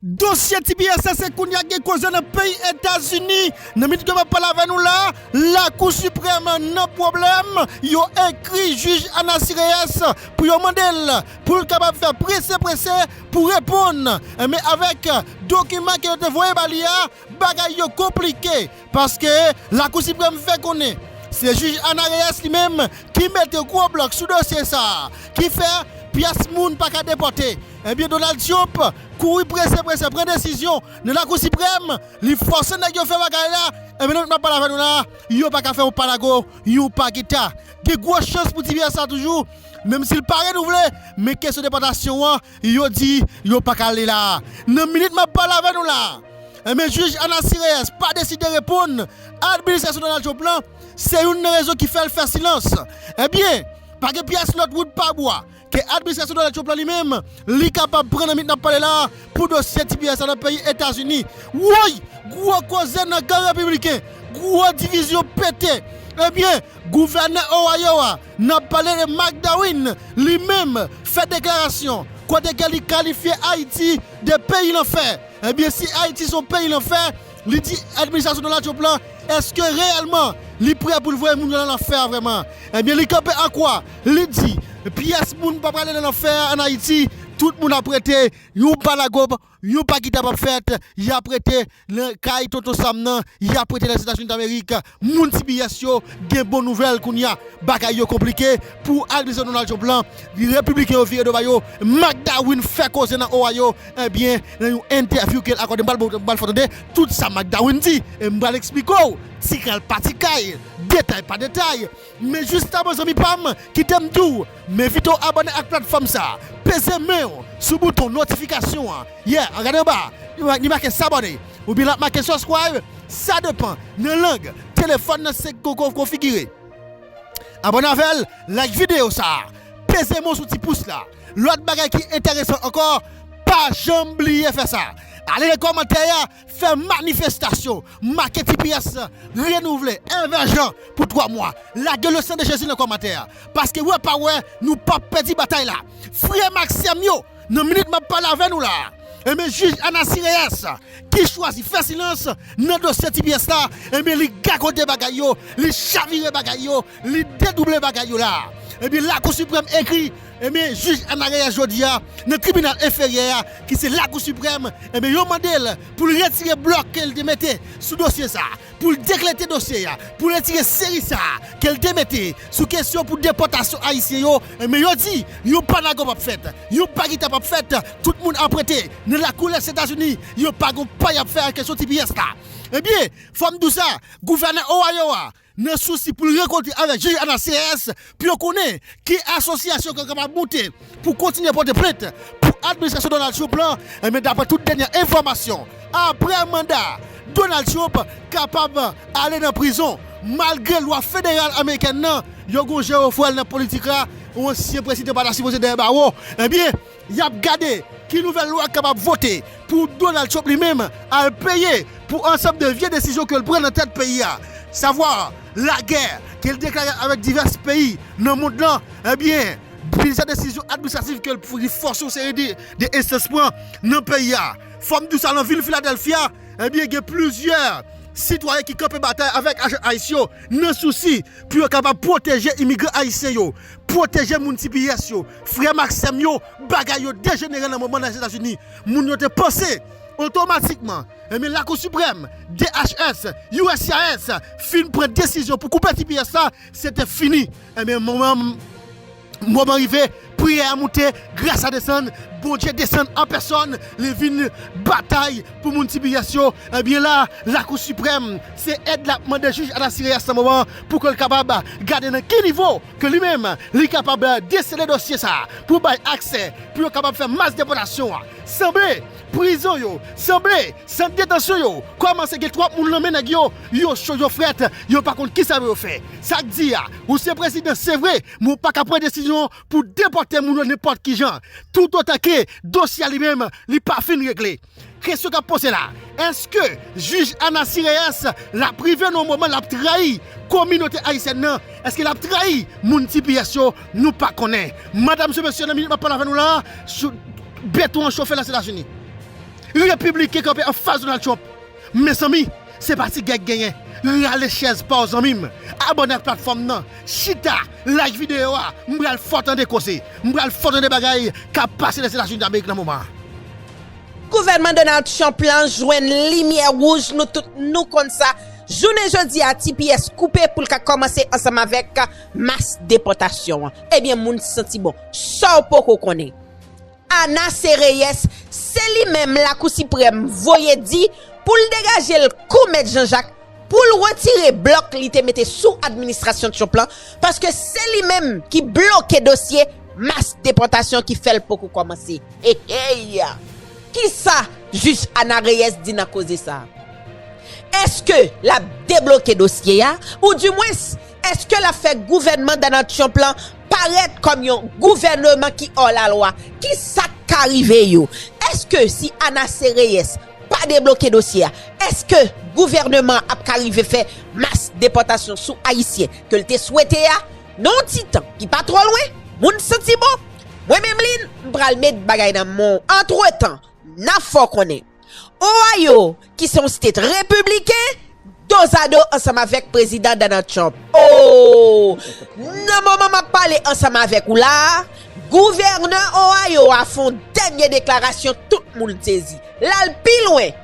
Dosye tps se kounye a k gen koze nan peyi Etazini. Nan minit ke map pale avè nou la, Lakou Siprèm nan pwoblèm, yo ekri jij Anasy Reyes pou yo mande l pou l kapab fè prese prese pou reponn. Enben avèk dokiman ke yo te voye ba li a, Bagay yo konplike paske Lakou Siprèm fè konnen se jij Ana Reyes li menm ki mete gwo blòk sou dosye sa a ki fè pyès moun pa ka depòte. Ebyen Donald Trump kouri prese prese pran desizyon nan Lakou Siprèm, li fòse nèg yo fè bagay la, ebyen nan minit map pale avè nou la yo pa ka fè yon pa lago yon pa geta. Gen gwo chans pou ti vyè sa toujou menm si l pa renouvle men kesyon depòtasyon an Yo di yo pa ka ale la a. Nan minit m ap pale avè nou la a, enben jij Ana Sireyès pa deside reponn administrasyon Donald Trump lan, se youn nan rezon ki fè l fè silans. Enben, pa gen pyès lòt wout pa bwa ke administrasyon Donald Trump lan li menm, li kapab pran nan minit n ap pale la a pou dosye tps la nan peyi Etazini. Woy! Gwo koze nan kan Repibliken, gwo divizyon pete! Enben, Gouvènè Ohio a nan pale de McDowin li menm fè deklarasyon kote ke li kalifye Ayiti de peyi lanfè. Ebyen si Ayiti son peyi lanfè, li di administrasyon Donald Trump lan eske reyèlman li prè pou l voye moun yo nan lanfè a vrèman. Ebyen li kanpe an kwa, li di pyès moun pa prale nan lanfè a an Ayiti, tout moun ap rete yon pa lagob. Yon pa ki ta pap fèt, yap rete nan kay tonton Sam nan, yap rete Lèzetazunidamerik, moun CBS yo gen bon nouvèl kounya, bagay yo konplike pou adminisasyon Donald Trump lan, repibliken yo vire do ba yo, McDarwin fè koze nan Ohio, ebyen nan yon entèvyou kel akòde mpral baw, mpral fè w tande tout sa McDarwin di, e mpral eksplike w tikal pa tikal, detay pa detay. Men jiska bon zanmi pam kitem diw m envite w abòne ak platfòm sa peze men w sou bouton notifikasyon an yeah an gade anba a li make sabòne oubyen lap make subscribe sa depan nan lang telefòn nan se konfigire abòne avèl like video sa peze men w sou ti pous la lòt bagay ki enteresan ankò pa janm bliye fè sa ale nan kòmantè a Fè manifestasyon, make tps lan, renouvle, envèjan pou 3 mwa. Lage le sang de Jezi nan kòmantè a. Paske wè pa wè, nou pap pèdi batay la. Frè m ak sè m yo, nan minit m ap pale avè nou la a, enben jij Anasy Reyes, ki chwazi fè silans nan dosye tps la, enben li gagode bagay yo, li chavire bagay yo, li dedouble bagay yo la a. Enben Lakou Siprèm ekri Ebyen jij Ana Reyes jodi a nan tribinal enferyè a ki se lakou siprèm ebyen yo mande l pou l retire blòk ke l te mete sou dosye sa pou l deklete dosye a pou l retire seri sa ke l te mete sou kesyon pou depòtasyon ayisyen yo ebyen yo di yon pa nago pap fèt yon pa gita pap fèt tout moun ap rete nan lakou lèzetazini yo pa gon pa yap fè ak kesyon tps la ebyen fò m di w sa gouvènè Ohio a Nan sousi pou l rankontre avèk jij Ana Sears pou yo konnen ki asosyasyon ke l kapab moute pou kontinye pote plent pou administrasyon Donald Trump lan, enben daprè tout dènyè enfòmasyon aprè manda Donald Trump kapab ale nan prizon malgre lwa federal amerikèn nan yo gon jerofwèl nan politik la, yon ansyen prezidan pa ta sipoze dèyè bawo, enben. Yap gade ki nouvèl lwa kapab vote pou Donald Trump li menm al peye pou ansanm de vye desizyon ke l pran nan tèt peyi a. Savwa lagè ke l deklare avèk divès peyi nan mond lan, ebyen plizyè desizyon administrativ ke l li fòse yon seri de enstans pran nan peyi a. Fò m di w sa nan vil Filadelfia, ebyen gen plizyè sitwayen ki kanpe batay avèk ajan ice yo nan sousi pou yo kapab pwoteje imigran ayisyen yo, pwoteje moun cbs yo, Frèm ak sèm yo, bagay yo dejenere nan moman nan Etazini. Moun yo te panse, otomatikman, ebyen Lakou Siprèm, DHS, uscis, fin pran desizyon pou koupe tps la, se te fini. Ebyen moman moman rive, priyè a moute, gras a desann, Bondye desann an pèsòn, li vin batay pou moun tps yo. Ebyen la, Lakou Siprèm, se èd l ap mande jij Adacireas nan moman pou ke l kapab gade nan ki nivo ke li menm li kapab desele dosye sa pou bay aksè pou yo kapab fè mas depòtasyon an. Sanble prizon yo, sanble sant detansyon yo kòmanse gen twòp moun lan men nèg yo, yo cho yo frèt, yo pa konn kisa pou yo fè. Sa k di a, ou se prezidan se vre, men ou pa ka pran desizyon pou depòte moun yo nenpòt kijan, toutotan ke dosye a li menm li pa fin regle. Kesyon kap poze la, eske jij Ana Sireyès la prive nou moman lap trayi kominote ayisyèn nan, eske lap trayi moun tps yo, nou pa konnen. Madam se mesye nan minit map pale avè nou la, beton an chofe lèzetazini. Repibliken kanpe anfas Donald Trump. Mezanmi se pa ti gè k genyen, rale chèz paw zanmim, abòne ak platfòm nan, chita, like videyo a, m pral fè w tande koze, m pral fè w tande bagay kap pase lèzetazini damerik nan moman. Gouvènman Donald Trump lan jwenn limyè wouj nou tout nou konn sa, jounen jodi a tps koupe pou l ka kòmanse ansanm avèk mas depòtasyon an. Ebyen moun santi bon, sa w poko konnen Ana se Reyès se li menm lakou siprèm voye di pou l degaje l kou mèt Janjak pou l retire blòk li te mete sou administrasyon Trump lan paske se li menm ki bloke dosye mas depòtasyon ki fè l poko kòmanse. Eyy! Kisa Jij Ana Reyes di nan koze sa? Eske lap debloke dosye a ou di mwens eske lap fè gouvènman Donald Trump lan parèt kòm yon gouvèneman ki ò la lwa? Kisak ka rive yo? Eske si Ana C. Reyes pa debloke dosye a eske gouvèneman ap ka rive fè mas depòtasyon sou ayisyen ke l te swete a? Nan yon ti tan ki pa twò lwen, moun santi bon, mwen menm Lynn m pral met bagay nan men w antretan n ap fè w konnen Ohio ki se yon state repibliken dozado ansanm avèk Prezidan Donald Trump oo nan moman m ap pale ansanm avèk ou la a gouvènè Ohio a fè yon dènye deklarasyon tout moun sezi l al pi lwen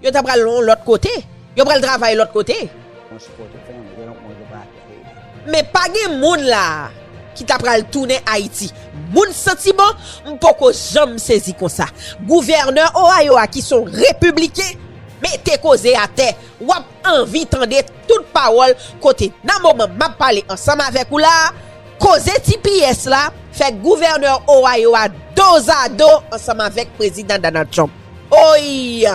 Yo ta pral yon lòt kote. Yo pral travay lòt kote. Men pa gen moun la a ki ta pral tounen Ayiti. Moun santiman, m poko janm sezi konsa. Gouvènè Ohio a ki son repibliken, mete koze atè. W ap anvi tande tout pawòl kote nan moman m ap pale ansanm avèk ou la a, koze tps la fè gouvènè Ohio a dozado ansanm avèk Prezidan Donald Trump. Oiiy!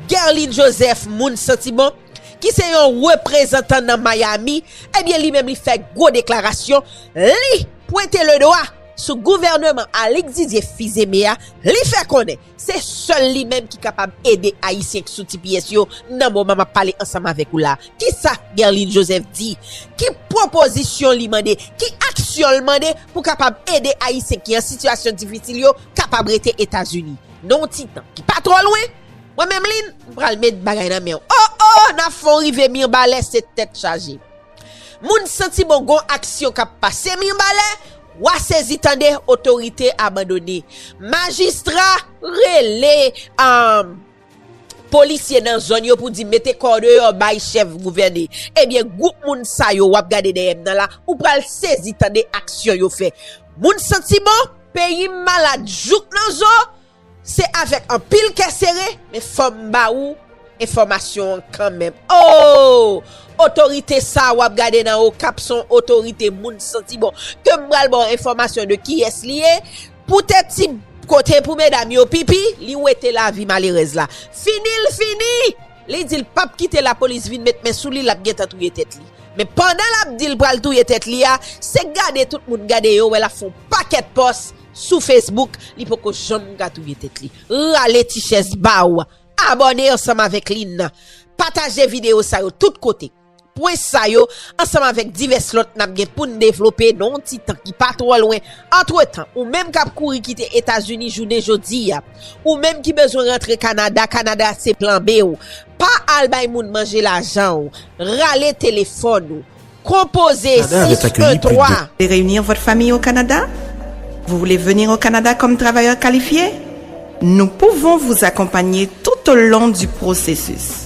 Guerline Joseph moun santiman, ki se yon reprezantan nan Miami, ebyen li menm li fè gwo deklarasyon, li pwente le dwa sou gouvèneman Alix Didier Fils-Aimé a, li fè konnen se sèl li menm ki kapab ede ayisyen k sou tps yo nan moman map pale ansanm avèk ou la. Kisa Guerline Joseph di? Ki pwopozisyon li mande? Ki aksyon l mande pou kapab ede ayisyen ki an sitiyasyon difisil yo kapab rete Etazini? Nan yon ti tan ki pa twò lwen, mwen menm Lynn, m pral met bagay nan men w. O o! N ap fè w rive Mirbalè se tèt chaje. Moun santi bon gon aksyon k ap pase Mirbalè, wa sezi tande otorite abandone. Majistra rele polisye nan zòn yo pou di mete kò deyò bay chèf gouvène. Ebyen gwoup moun sa yo w ap gade dèyè m nan la, ou pral sezi tande aksyon yo fè. Moun santi bon? Peyi m malad jouk nan zo, se avèk anpil kè sere, men fò m ba ou enfòmasyon an kanmenm. Oo! Otorite sa a w ap gade nan Okap s on otorite moun santi bon. Ke m pral ba w enfòmasyon de kiyès li ye, poutèt ti kote pou medam yo pipi, li wete lavi malerèz la. Fini l fini! Li dil pap kite lapolis vin met men souli lap gentan touye tèt li men pandan lap dil pral touye tèt li a se gade tout moun gade yo wè lap fon pakèt pòs sou Facebook li poko janm ka touye tèt li rale ti chèz baw abòne ansanm avèk li nan pataje video sa yo tout kote. Pwen sa yo, ansanm avèk divès lòt n ap gen pou n devlope nan yon ti tan ki pa twò lwen, antretan, ou menm k ap kouri kite Etazini jounen jodi a, ou menm ki bezwen rantre Kanada, Kanada se plan B ou, pa al bay moun manje lajan ou, rale telefòn ou, konpoze 6 1 3. Voulez reunir votre famille au Canada? Vous voulez venir au Canada comme travailleur qualifié? Nous pouvons vous accompagner tout au long du processus.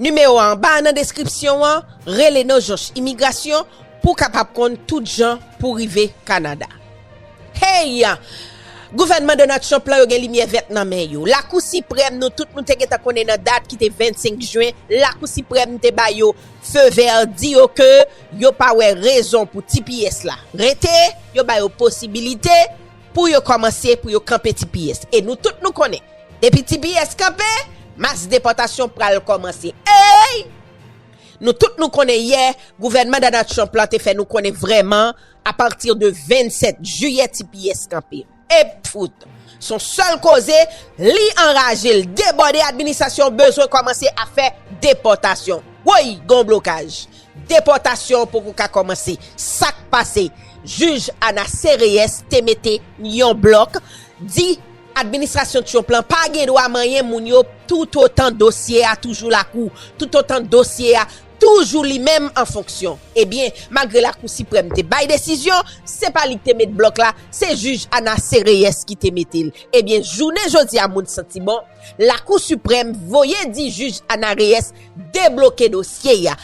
Nimewo anba a nan deskripsyon an, rele nan jonch imigrasyon pou w kapab konn tout jan pou w rive Kanada. Hey! Gouvènman Donald Trump lan yo gen limyè vèt nan men yo. Lakou Siprèm nou tout nou te gentan konnen nan dat ki te 25 jen, Lakou Siprèm te ba yo feu vert, di yo ke yo pa wè rezon pou tps la rete, yo ba yo posibilite. Pou yo kòmanse pou yo kanpe tps e nou tout nou konnen depi tps kanpe mas depòtasyon pral kòmanse eyy nou tout nou konnen yè gouvènman Donald Trump lan te fè nou konnen vrèman apati de 27 jiyè tps kanpe epfwt son sèl koze li anraje l debòde administrasyon bezwen kòmanse ap fè depòtasyon woyy gon blokaj Depòtasyon an poko ka kòmanse. Sak pase? Jij Ana Sereyès te mete yon blòk, di administrasyon Trump lan pa gen dwa manyen moun yo toutotan dosye a toujou lakou, toutotan dosye a toujou li menm an fonksyon. Ebyen, malgre Lakou Siprèm te bay desizyon, se pa li ki te met blòk la, se jij Ana Sereyès ki te mete l. Ebyen, jounen jodi a moun santi bon. Lakou Siprèm voye di jij Ana Reyes debloke dosye a,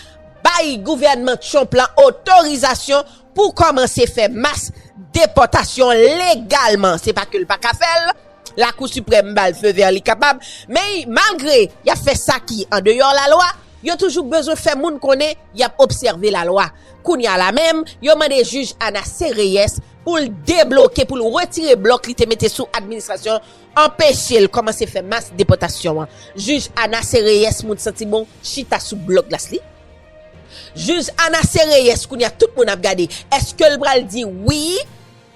bay gouvènman Trump la otorizasyon pou kòmanse fè mas depòtasyon legalman. Se pa ke l pa ka fè l, Lakou Siprèm ba l feu vert li kapab, men malgre y ap fè sa ki an deyò lalwa, yo toujou bezwen fè moun konnen y ap obsève lalwa. Kounya la menm, yo mande jij Ana C. Reyes pou l debloke, pou l retire blòk li te mete sou administrasyon Anpeche l kòmanse fè mas depòtasyon an, jij Anace Reyes moun santi bon chita sou blòk glas li. Jij Anace Reyes kounye a tout moun ap gade èske l pral di wi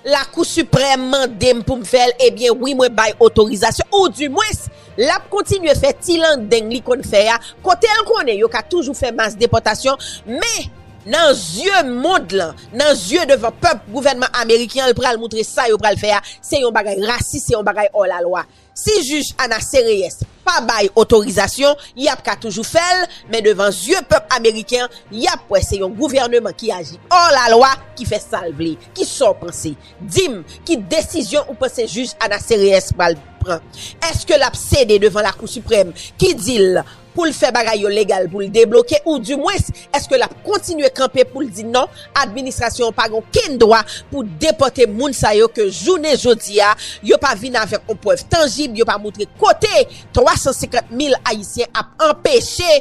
Lakou Siprèm mande m pou m fè l ebyen wi mwen bay otorizasyon ou di mwens l ap kontinye fè ti landeng li konn fè a kote l konnen yo ka toujou fè mas depòtasyon men Nan zye mond lan, nan zye devan pèp gouvènman ameriken an, l pral moutre sa yo pral fè a se yon bagay rasis, se yon bagay ò la lwa. Si jij Ana Sereyès pa bay otorizasyon, y ap ka toujou fè l, men devan zye pèp ameriken an, y ap wè se yon gouvèneman ki aji ò la lwa ki fè sa l vle. Ki sa w panse? Di m, ki desizyon ou panse jij Ana Sereyès pral pran? Èske l ap sede devan Lakou Siprèm ki di l, pou l fè bagay yo legal pou l debloke ou di mwens eske lap kontinye kanpe pou l di non administrasyon an pa gen okenn dwa pou depòte moun sa yo ke jounen jodi a yo pa vin avèk on prèv tanjib yo pa moutre kote 350 mil ayisyen ap anpeche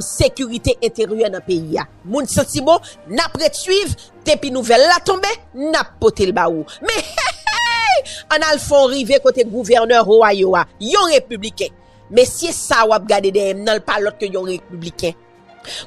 sekirite enteryè nan peyi a moun santi bon nap ret swiv depi nouvèl la tonbe nap pote l ba ou men hehey an al fon rive kote gouvènè Ohio a yon repibliken Mesye sa a w ap gade dèyè m nan l pa lòt ke yon repibliken.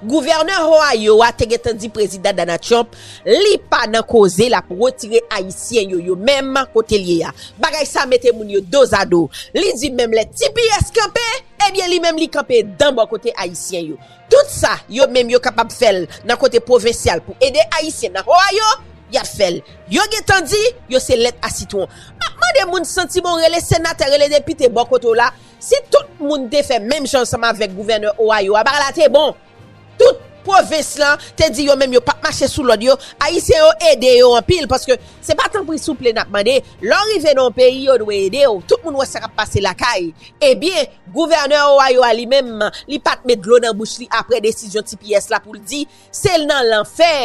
Gouvènè Ohio a te gentan di Prezidan Donald Trump li pa nan koze l ap retire Ayisyen yo yo menm kote l ye a. Bagay sa a mete moun yo dozado. Li di menm lè tps kanpe, ebyen li menm li kanpe dan bò kote Ayisyen yo. Tout sa yo menm yo kapab fè l nan kote pwovensyal pou ede Ayisyen nan Ohio, y ap fè l. Yo gen tan di, yo se lèt a sitwon. M ap mande moun santi bon rele senatè, rele depite bò kote w la, si tout moun te fè menm jan ansanm avèk gouvènè Ohio a, bagay la te bon. Tout pwovens lan te di yo menm yo p ap mache sou lòd yo, Ayisyen yo ede yo anpil paske se pa tanpri souple n ap mande. Lè w rive nan yon peyi yo dwe ede w. Tout moun wè sa k ap pase lakay. Ebyen, gouvènè Ohio a li menm, li pa t met dlo nan bouch li aprè desizyon tps la pou l di, se nan lanfè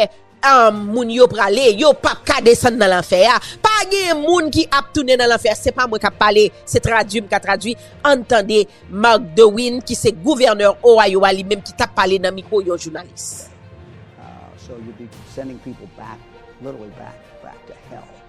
moun yo prale, yo p ap ka desann nan lanfè a. Pa gen moun ki ap tounen nan lanfè a, se pa mwen k ap pale, se tradui m ka tradui, ann tande Mark DeWine ki se gouvènè Ohio a li menm ki t ap pale nan mikwo yon jounalis.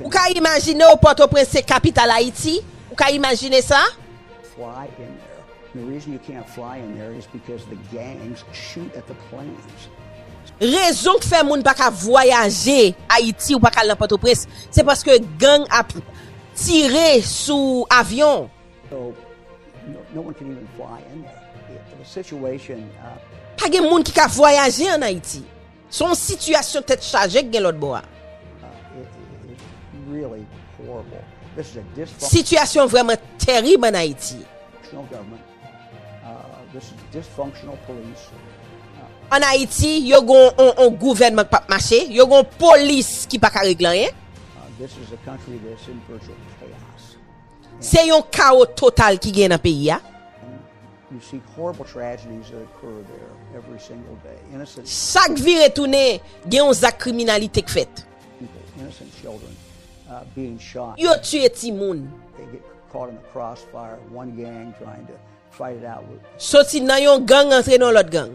Ou ka imajine w Pòtoprens se kapital Ayiti? Ou ka imajine sa? Rezon k fè moun pa ka vwayaje Ayiti ou pa ka al nan Pòtoprens se paske gang ap tire sou avyon. Pa gen moun ki ka vwayaje an Ayiti. Se yon sitiyasyon tèt chaje k gen lòt bò a. Sitiyasyon vrèman terib an Ayiti. An Ayiti, yo gen yon gouvènman k pa p mache, yo gen yon polis ki pa ka regle anyen. Se yon kawo total ki gen nan peyi a. Chak vire tounen, gen yon zak kriminalite k fèt. Yo tiye timoun. Soti nan yon gang antre nan lòt gang.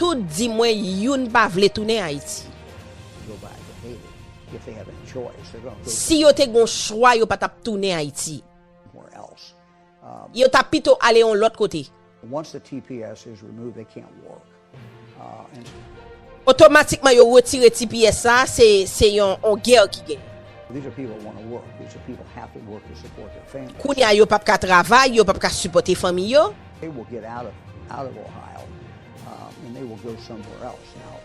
Tout di mwen youn pa vle tounen Haiti. Si yo te gon chwa yo pa tap tounen Haiti. Yo ta pito ale yon lot kote. Otomatikman yo retire tps sa se yon guerre ki genyen. Kounya yo pap ka travay yo pap ka sipote fanmi yo. They will get out of Ohio and they will go somewhere else now.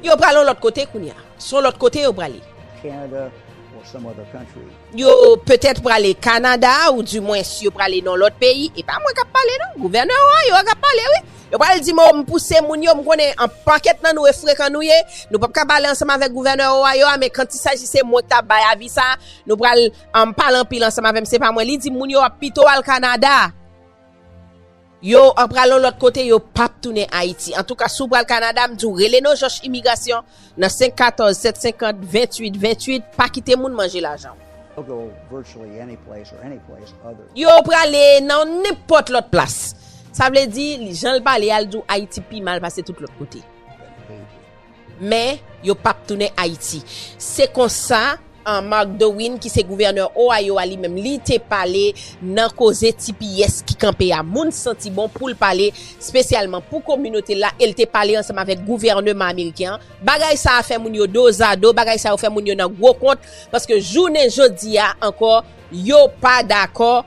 Yo pral yon lòt kote kounye a. Son lòt kote yo prale. Canada or some other country. Yo petèt prale Kanada ou di mwens yo prale nan lòt peyi. E pa mwen k ap pale non. Gouvènè Ohio a k ap pale wi. Yo pral di m o m pouse moun yo m konnen an pakèt nan nou e frekan nou ye. Nou p ap ka pale ansanm avèk gouvènè Ohio a men kantisaj si se mwen k ta bay avi sa a nou pral pale anpil ansanm avè m se pa mwen. Li di moun yo ap pito al Kanada. Yo an pral yon lòt kote yo pap tounen ayiti antouka si w pral Canada m di w rele nojoch imigrasyon nan 5 14 7 50 28 28 pa kite moun manje lajan w. Yo prale nan nenpòt lòt plas. Sa vle di, jan l pale a, l di w Ayiti pi mal pase tout lòt kote. Men, yo pap tounen Ayiti. Se konsa, Mark Dowin ki se gouvènè Ohio a li menm, li te pale nan koze tps ki kanpe a. Moun santi bon pou l pale spesyalman pou kominote l la e l te pale ansanm avèk gouvèneman ameriken an. Bagay sa a fè moun yo dozado, bagay sa yo fè moun yo nan gwo kont paske jounen jodi a ankò yo pa dakò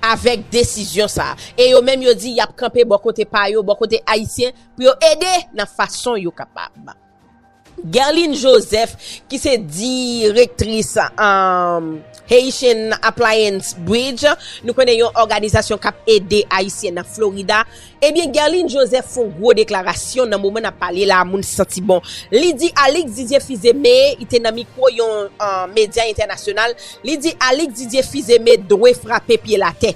avèk desizyon sa a. E yo menm yo di y ap kanpe bò kote pa yo, bò kote Ayisyen. pou yo ede nan fason yo kapab. Guerline Joseph ki se direktris Haitian Appliance Bridge, nou konnen yon òganizasyon kap ede Ayisyen nan Florida, ebyen Guerline Joseph fon gwo deklarasyon nan moman nap pale la moun santi bon. Li di Alix Didier Fils-Aimé, li te nan mikwo yon medya entènasyonal, li di Alix Didier Fils-Aimé dwe frape pyel atè.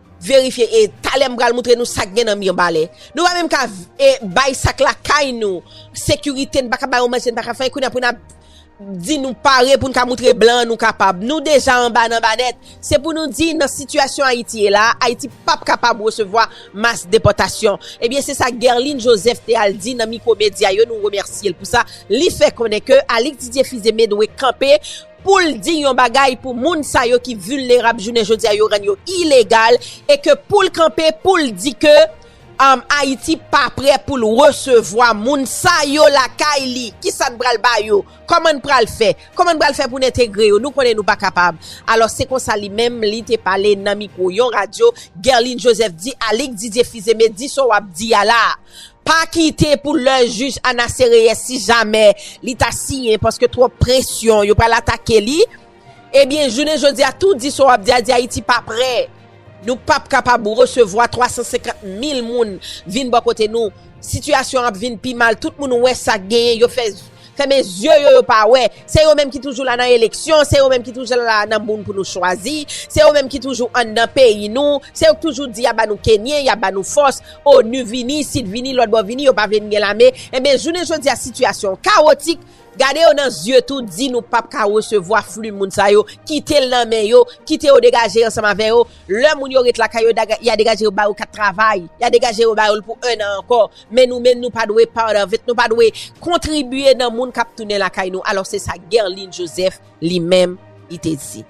verifye e talè m pral moutre nou sak gen nan mirbalè nou pa menm ka e bay sak lakay nou sekirite n pa ka bay yon manje n pa ka fè anyen kounya pou nap di nou pare pou n ka moutre blan nou kapab nou deja anba nan ba nèt se pou nou di nan sitiyasyon ayiti ye la ayiti pap kapab resevwa mas depòtasyon ebyen se sa Guerline Joseph te al di nan mikwo medya yo nou remèsye l pou sa li fè konnen ke Alix Didier Fils-Aimé dwe kanpe pou l di yon bagay pou moun sa yo ki vilnerab jounen jodi a yo rann yo ilegal e ke pou l kanpe pou l di ke Ayiti pa prè pou l resevwa moun sa yo lakay li. Kisa n pral ba yo? Kòman n pral fè? Kòman n pral fè pou n entegre yo? Nou konnen nou pa kapab. Alò se konsa li menm li te pale nan mikwo yon radyo, Guerline Joseph di Alix Didier Fils-Aimé di sa w ap di a la a. Pa kite pou lè jij Ana Sereyès si jamè li ta siyen paske twòp presyon yo pral atake li ebyen jounen jodi a tou di sa w ap di a di Ayiti pa prè nou p ap kapab resevwa 350 mil moun vin bò kote nou sitiyasyon an ap vin pi mal tout moun wè sa k genyen yo fè Fèmen zye yo yo pa wè. Se yo menm ki toujou la nan eleksyon, se yo menm ki toujou la nan moun pou nou chwazi, se yo menm ki toujou anndan peyi nou, se yo ki toujou di yap ba nou kenyen, yap ba nou fòs, onu vini, sit vini, lòt bò vini, yo pa vle n gen lame, enben jounen jodi a sitiyasyon kawotik, gade yo nan zye tou di nou pap ka resevwa fli moun sa yo, kite l nan men yo, kite yo degaje ansanm avè yo, lè moun yo ret lakay yo ya degaje yo ba yo kat travay, ya degaje yo ba yo l pou 1 an ankò. Men nou menm nou pa dwe part of it, nou pa dwe kontribye nan moun kap tounen lakay nou alò se sa Guerline Joseph li menm li te di.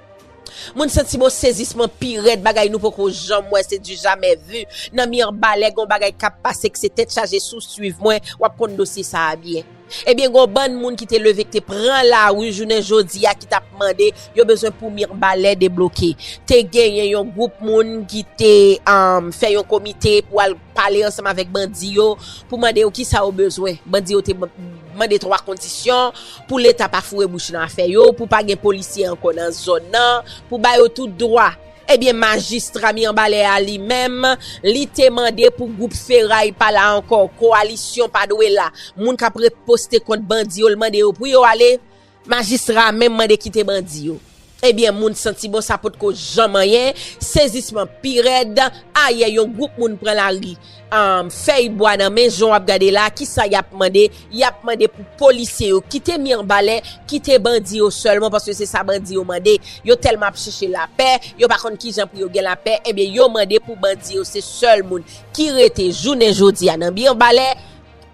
Moun santi bon sezisman pi rèd bagay nou poko janm wè se du jamais vu nan mirbalè gon bagay kap pase kse tèt chaje si w swiv mwen wap konn dosye sa a byen ebyen gon bann moun ki te leve ki te pran lari jounen jodi a ki tap mande yo bezwen pou mirbalè debloke te genyen yon gwoup moun ki te fè yon komite pou al pale ansanm avèk bandi yo pou mande yo kisa yo bezwen. Bandi yo te mande 3 kondisyon, pou leta pa foure bouch nan afè yo, pou pa gen polisye ankò nan zòn nan, pou ba yo tout dwa. Ebyen majistra Mirebalais a li menm, li te mande pou gwoup feray pa la ankò, kowalisyon pa dwe la. Moun k ap reposte kont bandi yo, li mande yo pou yo ale. Majistra a menm mande kite bandi yo. Ebyen moun santi bon sa potko janm anyen, sezisman pi rèd, ayè yon gwoup moun pran lari am fèy bwa nan men jan w ap gade la kisa y ap mande, y ap mande pou polisye yo kite Mirbalè, kite bandi yo sèlman paske se sa bandi yo mande, yo tèlman ap chèche lapè, yo pa konn kijan pou yo gen lapè, ebyen yo mande pou bandi yo se sèl moun ki rete jounen jodi a nan Mirbalè.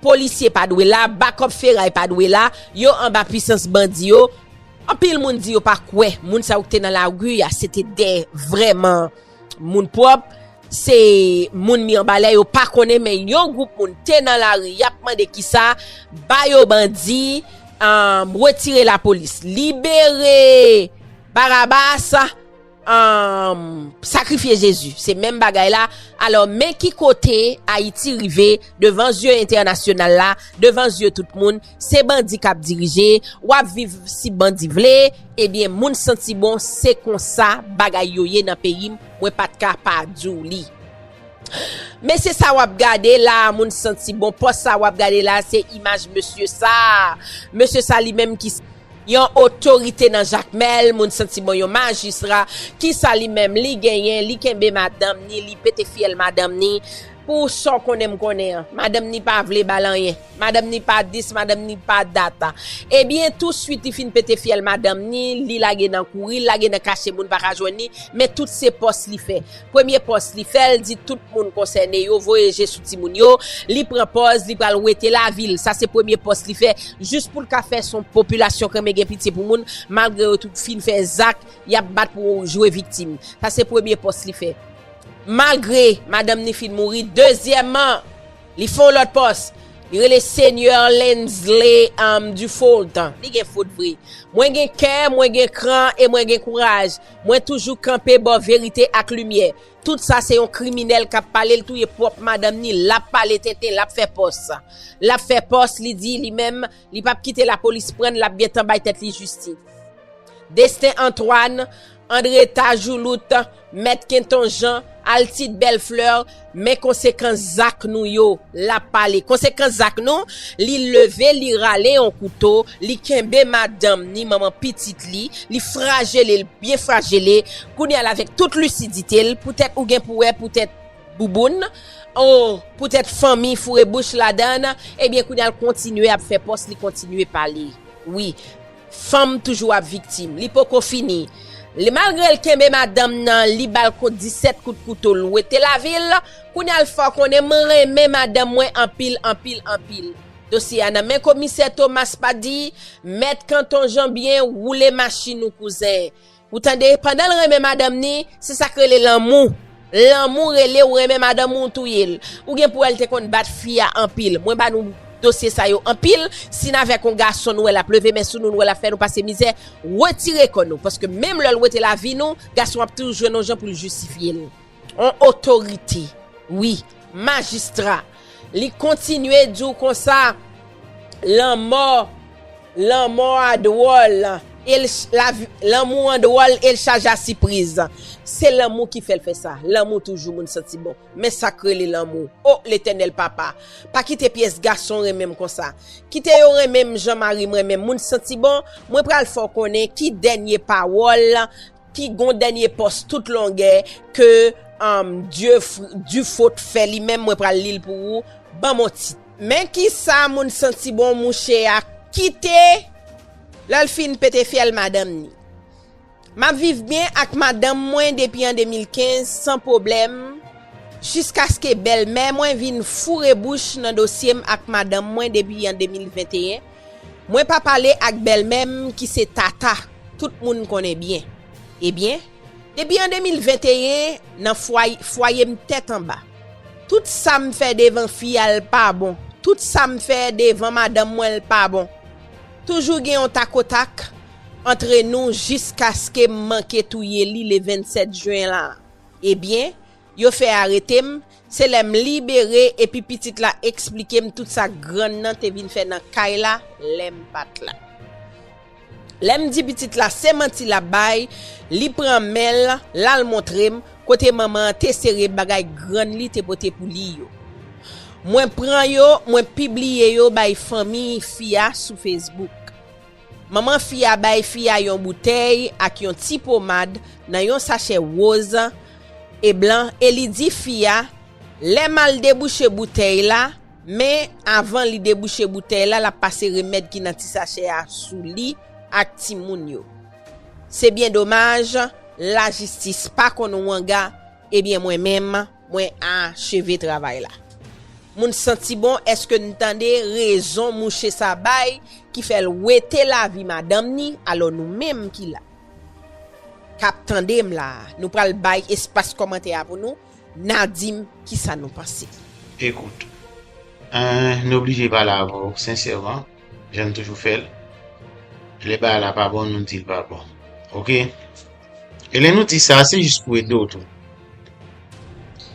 polisye pa dwe la bakòp feray pa dwe la yo anba pwisans bandi yo anpil moun di yo pa kwè moun sa yo ki te nan lari a se te de vrèman moun pwòp se moun miyanbalè yo pa konnen men yon gwoup moun te nan lari yap mande ki sa ba yo bandi an retire lapolis libere barabas. Aah sakrifye Jezi se menm bagay la alò men ki kote ayiti rive devan zye entènasyonal la devan zye tout moun se bandi kap dirije wap viv si bandi vle ebyen moun santi bon se konsa bagay yo ye nan peyim mwen pat ka pa diw li mesye sa wap gade la moun santi bon pòs sa wap gade la se imaj mesye sa mesye sa li menm ki Yon otorite nan jakmel moun santi bon yon majistra kisa li menm li genyen li kenbe madanm ni li pete fyèl madanm ni pou sa w konnen m konnen an madanm ni pa vle bal anyen madanm ni pa dis madanm ni pa dat ebyen tou swit li fin pete fyèl madanm ni li lage nan kouri l lage nan kache moun paka jwenn li men tout se pòs li fè Premye pòs li fè l di tout moun konsène yo voye je sou timoun yo, li pran pòz li pral wete lavi l, sa se premye pòs li fè jis pou l ka fè son popilasyon krenmen gen pitye pou moun malgre yo tout fin fè zak y ap bat pou jwe viktim, sa se premye pòs li fè malgre madanm ni fin mouri, dezyèman li fè yon lòt pòs li rele Seigneur Lensley Dufault. Li gen fot vre. Mwen gen kè, mwen gen kran e mwen gen kouraj. Mwen toujou kanpe bò verite ak limyè. Tout sa se yon kriminèl kap pale l touye pwòp madanm ni lap pale tenten lap fè pòs lap fè pòs li di li menm li pap kite lapolis pran l lap gentan bay tèt li jistis Destin Antoine André Tajoulout Mèt Kenton Jean Altide Bellefleur Men konsekans zak nou yo, l ap pale. Konsekans zak nou, li leve, li rale yon kouto, li kenbe madanm ni manman pitit li, li frajele l, byen frajele, kounye a l avèk tout lisidite l, poutèt ou gen pou wè, poutèt bouboun, o, poutèt fanmi foure bouch ladan, ebyen kounye a l kontinye ap fè pòs, li kontinye pale. Wi. Fanm toujou ap viktim. Li poko fini. Li malgre l kenbe madanm nan li bal kout 17 kout kouto l wete lavi l kounya l fè w konnen m renmen madanm mwen anpil anpil anpil dosye a nan men komisè Thomas pa di mèt kanton janbyen woule machin ou kouzen. Ou tande, pandan l renmen madanm ni, se sa k rele lanmou. Lanmou rele ou renmen madanm ou, ou touye l. Ou gen pou wè l te konn bat fi a anpil. Mwen ba nou dosye sa yo anpil. Si n avèk yon gason nou wè l ap leve men sou nou, nou wè l ap fè nou pase mizè, wetire kò nou. Paske menm lè l wete lavi nou, gason an ap toujou jwenn yon jan pou l jistifye l. On otorite wi majistra li kontinye di w konsa lanmò lanmò a dwòl el lavi lanmou an dwòl el chaje a sipriz se lanmou ki fè l fè sa lanmou toujou moun santi bon men sa k rele lanmou o letènèl papa pa kite pyès gason renmen m konsa kite yo renmen m jan mari m renmen m moun santi bon mwen pral fè w konnen ki dènye pawòl Pi gon dènye pòs tout longè ke Dufeau t fè li menm mwen pral lil pou ou banm on tit. Men kisa moun santi bon mouche a kite lèl fin pete fyèl madanm ni. Map viv byen ak madanm mwen depi an 2015 san pwoblèm jiskaske bèlmè mwen vin foure bouch nan dosyem ak madanm mwen depi an 2021 Mwen pa pale ak bèlmè m ki se Tata, tout moun konnen byen. Ebyen, depi an 2021, nan fwaye, fwaye m tèt anba. Tout sa m fè devan fi a l pa bon, tout sa m fè devan madanm mwen l pa bon. Toujou gen yon takotak antre nou jiskaske m manke touye li le 27 jen la. Ebyen, Yo fè arete m, se lè m libere epi pitit la eksplike m tout sa grann nan te vin fè nan kay la lè m pa t la. Lè m di pitit la se manti l ap bay, li pran men l, l al montre m kote manman an te sere bagay grann li te pote pou li yo. Mwen pran yo, mwen pibliye yo bay fanmi fi a sou Facebook. Manman fi a bay fi a yon boutèy ak yon ti pomad nan yon sachè woz e blan e li di fi a, Lè m al debouche boutèy la, men, avan li debouche boutèy la, l ap pase remèd ki nan ti sachè a sou li ak timoun yo. Se byen domaj, lajistis pa konn wanga, ebyen mwen menm, Mwen acheve travay la. Moun santi bon eske n tande rezon mouche sa bay ki fè l wete lavi madanm ni alò nou menm ki la kap tande m la nou pral bay espas kòmantè a pou nou na di m kisa nou panse. Ekout. Ahh n oblije pale avè w sensèman. Jan nou toujou fè l. Lè bagay la pa bon, nou di l pa bon. Ok? E lè nou di sa, se jis pou ede w tou.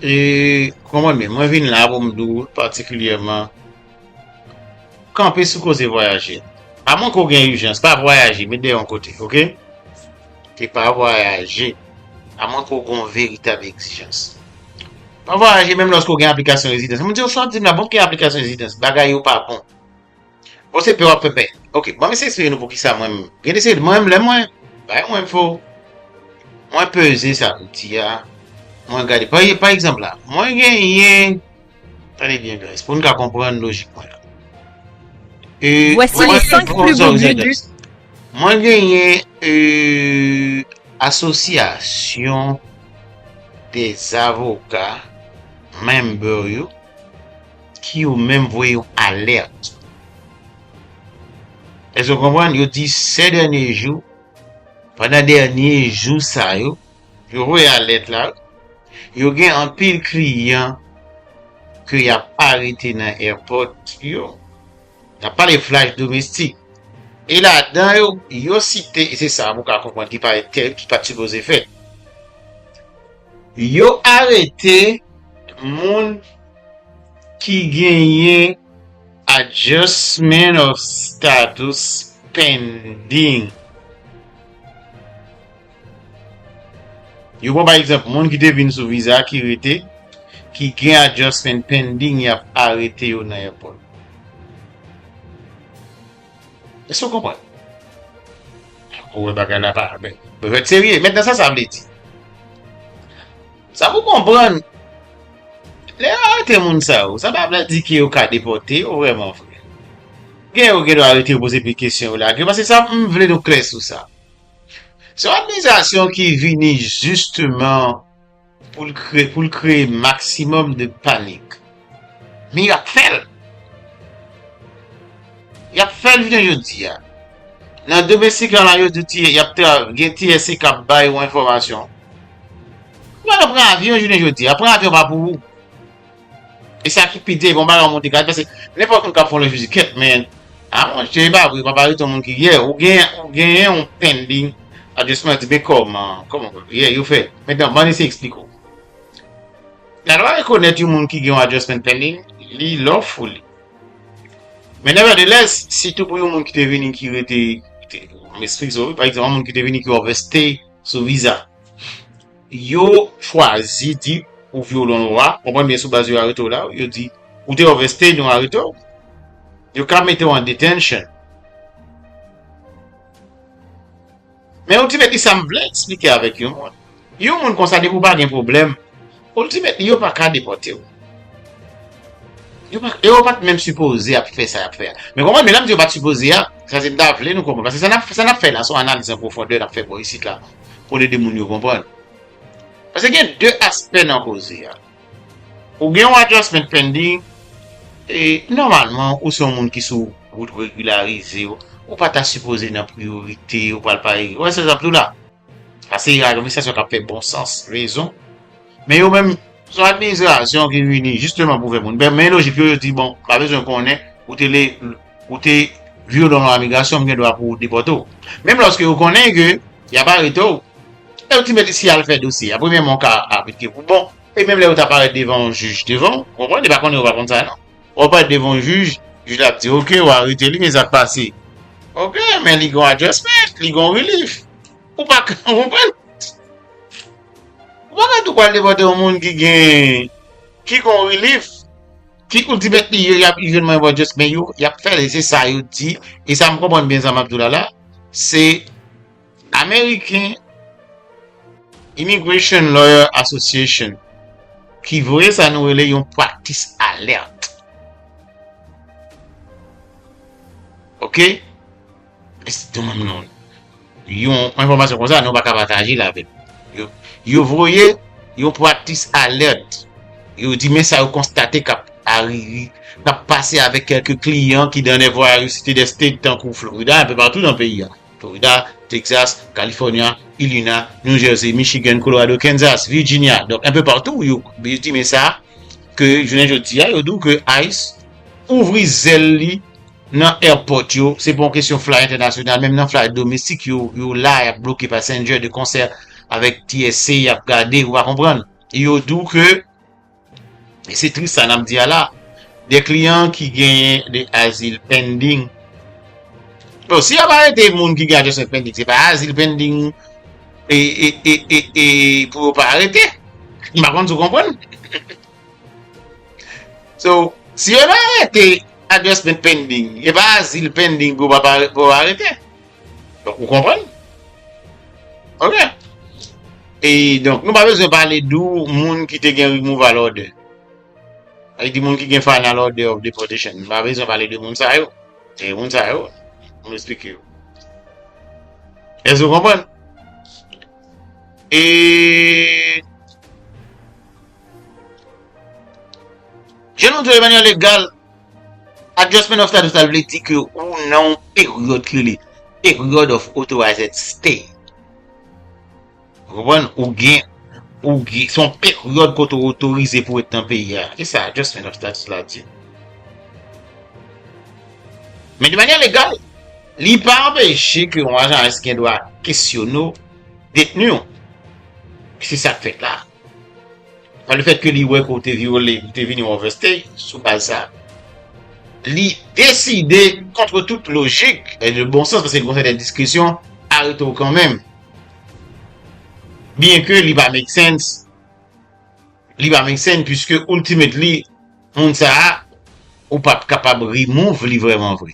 E kon mwen men, mwen vin la pou m di w patikilyèman, kanpe sou koze vwayaje. A mwen ko gen ijans, pa vwayaje, met de yon kote, ok? E pa vwayaje, a mwen ko gen yon veritab egzijans. Pa vwayaje, menm lòske w gen aplikasyon rezidans. Mwen di w sa w di m la, bon ki aplikasyon rezidans, bagay yo pa bon. Bon se pè wap fè pè. Ok, bon mese esplike nou pou kisa mwen gen de se mwen menm lè mwen bay mwen fo. Mwen peze sa nou di a. Mwen gade pa ye pa egzanp la. Mwen gen yen tande byen guys pou nou ka konprann lojik mwen. E vwèsi le 5 pli bon di di. Mwen gen yen e asosyasyon de zavoka menm bè yo ki yo menm voye yon alèt. Èske w konprann? Yo di sè dènye jou, pandan dènye jou sa yo, yo voye alèt la, yo gen anpil kliyan ke y ap arete nan èpòt yo. N ap pale flash domestik. E ladan yo, yo site, e se sa pou w ka konprann ki pa te, ki pa t sipoze fèt. Yo arete moun. Ki genyen Adjustment of Status Pending. Yo pran pa egzanp moun ki te vin sou viza ki rete, ki gen Adjustment Pending y ap arete yo nan èpòt. Èske ou konprann? Ou wè bagay la pa. Mwen mèt serye. Mentnan sa sa vle di? Sa pou konprann, lè yo arete moun sa yo, sa pa vle di ke yo ka depote yo vreman vre. Gen yo gen dwa arete yo poze pil kesyon yo lage yo, paske sa m vle nou klè sou sa. Se yon administrasyon ki vini jisteman pou l kreye maksimòm de panik. Men y ap fè l. Y ap fè l jounen jodi a. Nan domestik la la yo di ti y ap te gen ti ese k ap bay ou enfòmasyon. Ou pa ka pran avyon jounen jodi a. Pran avyon pa pou ou. E sa ki pi di, bon bagay ou monte kay. Pase, nenpòt moun k ap fè yon levi di kèt men. A mwen chè e pa vre, pa pare ton moun ki yè. Ou gen, ou gen yon pending. Adjèsman di, men kòman, kòman, yè, yo fè. Mètè, ban ese eksplike ou. La lwa rekonèt yon moun ki gen yon adjustment pending li lawfully. Men nevertheless, sitou pou yon moun ki te vini ki rete, m esplike sa wi, pa egzanp yon moun ki te vini ki overstay sou viza, yo chwazi di ou vyole yon lwa, konprann byen, sou baz yo arete w la, yo di ou te overstay nou arete w, yo ka mete w an detention. Men ultimately sa m vle eksplike avèk yon moun, yon moun konsa depi w pa gen pwoblèm, ultimately yo pa ka depòte w. Yo pa, yo pa t menm sipoze ap fè sa y ap fè a. Men konprann, men lè m di yo pa t sipoze a, se sa m ta vle nou konprann. Paske sa n ap, sa n ap fè la se yon analiz an pwofondè n ap fè bò isit la pou n ede moun yo konprann. Paske gen de aspè nan koze a. Ou gen yon adjustment pending e nòmalman ou se yon moun ki sou wout regularize yo, ou pa ta sipoze nan priyorite yo pral pale, ou wè sa zap diw la? Sa se administrasyon kap fè bon sans, rezon, men yo menm se yon administrasyon ki vini jisteman pou fè moun pè, men lojik yo yo di bon m pa bezwen konnen ou te le. Ou te vyolon lwa migrasyon m gen dwa pou depòte w. Menm lòske yo konnen ke y ap arete w, lè yo di mèt isi al fè dosye a, premyèman w ka aplike pou bon. E menm lè yo ta parèt devan yon jij devan w, ou konprann, yo pa konnen ou pa konn sa non. Wè w parèt devan yon jij, jij la ap di ok ou arete li men sa k pase? Ok men li gen yon adjustment, li gen yon relief. Ou pa ka, ou konprann? Ou pa ka tou pral depòte yon moun ki gen, ki gen yon relief. Fi koul di mèt li yo yap ive mwen bon just men yo yap fè li se sa yo di e sa m konprann byen sa map di w la la se American Immigration Lawyer Association ki voye sa nou rele yon practice alert ok. Yon enfòmasyon konsa nou pa ka pataje l avèk nou. Yo voye yon practice alert. Yo di men sa yo konstate k ap pase avèk kèlke kliyan ki nan de voyage cité des states tankou Florida, anpe patou nan peyi a. Florida, Texas, California, Illinois, New Jersey, Michigan, Colorado, Kansas, Virginia, donk anpe patou yo di men sa ke jounen jodi a yo di w ke ice ouvri zèl li. nan airport yo, se pa yon kesyon fly entènasyonal, menm nan fly domestik yo, yo la yap bloke passenger de concert avèk TSA yap gade, ou pa konprann, e yo di w ke, e se tris sa nap di a la, de kliyan ki genyen de azil pending, bon si yap arete moun ki gen adjustment pending se pa azil pending e pou yo pa arete, m pa konn si w konprann. So, si yo nan arete adjustment pending, e pa azil pending pou yo arete. Donk, ou konprann? Ok. E, donk, nou pa bezwen pale dou moun ki te gen removal order. Ay di moun ki gen final order of deportation. Nou pa bezwen pale de moun sa yo. E moun sa yo, mwen esplike yo. E sou konprann? E... Je nou di yo manye legal, adjustment of status la vle di ke ou nan yon peryòd ki rele period of authorized stay. Konprann? Ou gen, ou gen, se yon peryòd kote ou otorize pou ret nan peyi a. Se sa adjustment of status la di. Men de manye legal, li pa anpeche ke yon ajan ICE gen dwa kesyone ou, detni ou. Se sa k fèt la. Par le fait que li wè ke ou te vyole, li te vini overstay, sou baz sa, li deside kontre tout lojik e de bon sans, paske li konn fè de diskresyon, arete ou kanmenm. Byen ke li pa make sense, li pa make sense, puiske ultimately, Moun sa a ou pap kapab remove li vreman vre.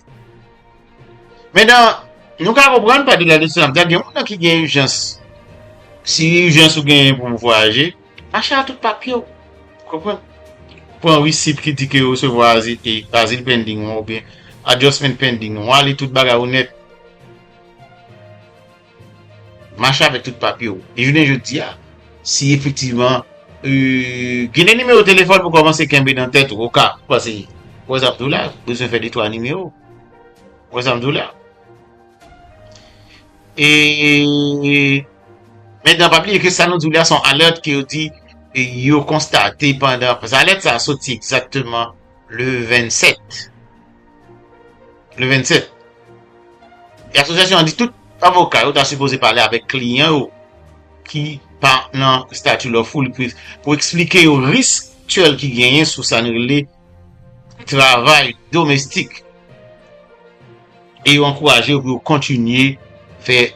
Men nan, nou ka konprann pa delà de sa, gen moun nan ki gen ijans, si ijans ou genyen pou ou vwayaje, mache a tout papye ou. Konprann? Pran receipt ki di ke ou resevwa azil pending ou oubyen adjustment pending ou, a li tout bagay ou nèt. Mache avèk tout papye w. E jounen jodi a, si efektivman ou gen 2 nimewo telefòn pou kòmanse kenbe nan tèt ou oka, pase, wè sa m di w la, bezwen fè detwa nimewo. Wè sa m di w la. E mentan pa bliye ke sa nou di w la se yon alèt ke yo di yo konstate pandan, pase alèt sa a soti egzakteman le 27. Le 27. E asosyasyon an di tout avoka yo ta sipoze pale avèk kliyan yo ki pa nan stati lawful li plis pou eksplike yo risk aktyèl ki genyen sou sa n rele travay domestik e yo ankouraje yo pou yo kontinye fè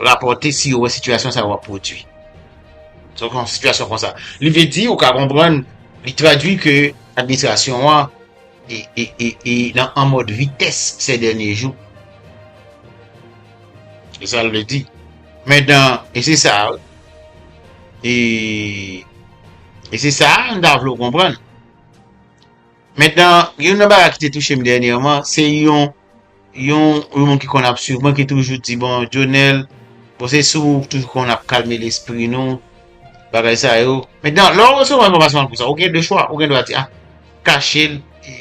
rapòte si yo wè sitiyasyon sa yo ap pwodui. Donk yon sitiyasyon konsa. Li vle di ou ka konprann li tradui ke Administrasyon an e nan an mòd vitès sè dènye jou. Se sa l vle di. Men dan e se sa wi. E e se sa m ta vle w konprann. Men dan youn nan bagay ki te touche m dènyèman se yon Yon yon moun ki konn ap swiv mwen ki toujou di bon Dionel bon se sou ou toujou konn ap kalme lespri nou bagay sa yo. Mentnan lè w resevwa enfòmasyon tankou sa ou gen 2 chwa ou gen dwa di a kache l e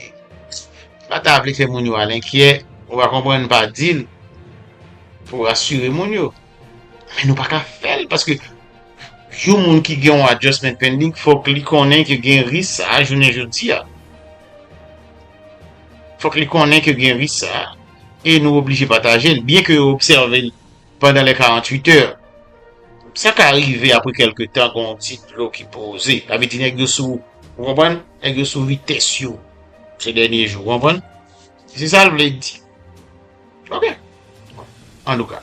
pa ta vle fè moun yo al enkyè ou ka konprann pa di l pou w rasire moun yo men nou pa ka fè l paske yon moun ki gen yon adjustment pending fòk li konnen ke gen risk sa a jounen jodi a. Fòk li konnen ke gen risk sa a, e nou oblije pataje l, byen ke yo obsève l pandan lè 48 è. Sa ka rive apre kèlke tan gen yon ti dlo ki poze, sa vle di nèg yo sou, ou konprann, nèg yo sou vitès yo se dènye jou, ou konprann? Se sa l vle di. Ok. An tou ka.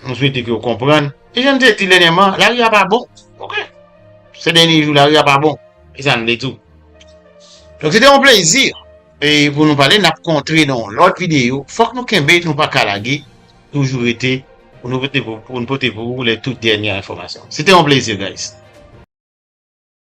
M swete ke w konprann. E jan m te di dènyèman, lari a pa bon. Ok. Se dènye jou lari a pa bon. E sa n vle tou. Donk se te yon plezi pou nou pale. N ap kontre nan yon lòt videyo. Fòk nou kenbe, nou pa ka lage. Toujou rete pou nou pote pou ou lè tout dènyè enfòmasyon. Se te yon plezi guys.